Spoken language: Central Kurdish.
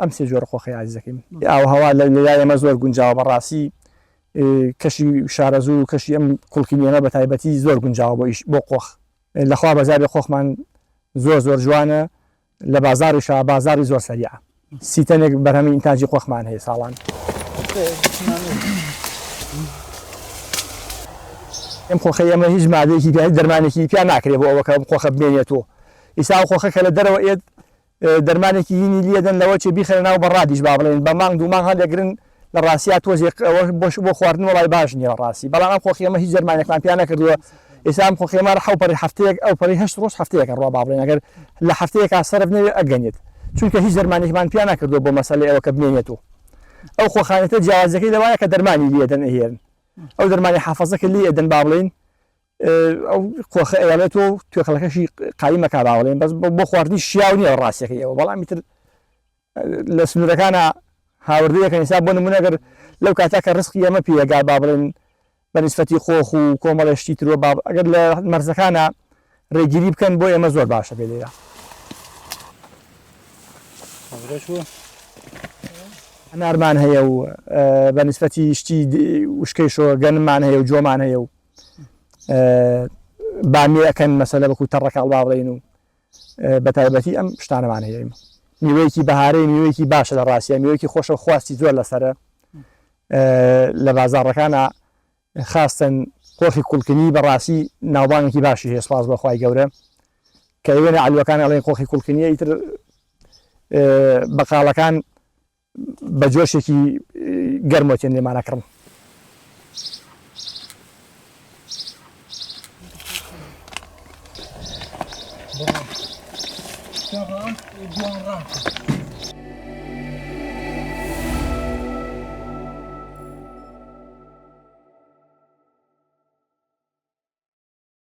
ئەم سێ جۆرە قۆخەی ئازیزەکەیم ی ئاووهەوا لە لای ئێمە زۆر گونجاوە بە ڕاستی کەشی شارەزوور و کەشی ئەم خوڵکی نوێمە بە تایبەتی زۆر گونجاوە بۆ ئیش بۆ قۆخ لە خوا بەزیابێ قۆخمان زۆر زۆر جوانە لە بازاڕیشە بازاڕی زۆر سەریعە سی تەنێک بەرهەمی ئینتاجی قۆخمان هەیە ساڵان ئەم قۆخەی ئەمە هیچ مادەیەکی پێ دەرمانێکی پیا ناکرێت بۆ ئەوەکە قۆخە بمێنێتەوە ئیسا و قۆخە کە لە دەرەوە ئێت دەرمانێکی هینی لیە دەن لەوە چێ بیخەنە ناو بە رادیش با بڵێن بە مانگ دوو مانگ هەڵێ گرن لە راستیا تۆزێ ق ئەوە بۆش بۆ خواردن وەڵای باش نیە راستی بەڵام ئەم خۆخیەمە هیچ دەرمانێکمان پیا نەکردوە ئێستا ئەم خۆخیەمە رە حەو پەڕی هەفتەیەک ئەو پەڕی هەشت رۆژ هەفتەیەکە ڕوا با بڵێن ئەگەر لە هەفتەیەکا سەرف نەوێ ئەگەنێت چونکە هیچ دەرمانێکمان پیا نەکردوە بۆ مەسەلەی ئەوە کە بمێنێت و ئەو خۆخانێتە جیاوازەکەی لەوایە کە دەرمانی لیە دەن ئەهێرن ئەو دەرمانی حەفەزەکە لی ئەدەن با بڵێن ئەو قۆخە ئەیەڵێت و توێکڵەکەشی قایم مەکە باوەڵێن بەس بۆ خواردنی شیاو نیە ڕاستەکەی ئەوە بەڵامی تر لە سنوورەکانە هاوردەیەکە ئێستا بۆ نمونەگەر لەو کاتا کە ڕسقی ئەمە پێگا با بڵێن بە نسفەتی خۆخ و کۆمەڵێشتی ترۆ با ئەگەر لە مەرزەکانە ڕێگیری بکەن بۆ ئێمە زۆر باشە پێ لێرە نارمان هەیە و بە نسفەتی شتی وشکەی شۆ گەنمان هەیە و جۆمان هەیە و بامی ئەکەن مەسەلە بەکو تەڕەکە هەڵباڵین و بەتایبەتی ئەم شتانەمان هەیە میوەیەکی بەهارەی میوەیەکی باشە لە ڕاستە میوەیەکی خۆشە خواستی زۆر لەسرە لە بازارڕەکانە خاستن قۆخی کوڵکنی بەڕاستی ناوبانێکی باشی هەیە سپاس بەخوای گەورە کە وێنە ئەلوەکان ئەڵێن قۆخی کوڵکنیە ئیتر بەقالەکان بە جۆشێکی گەرمەوە تێن لێمان ئەکڕن.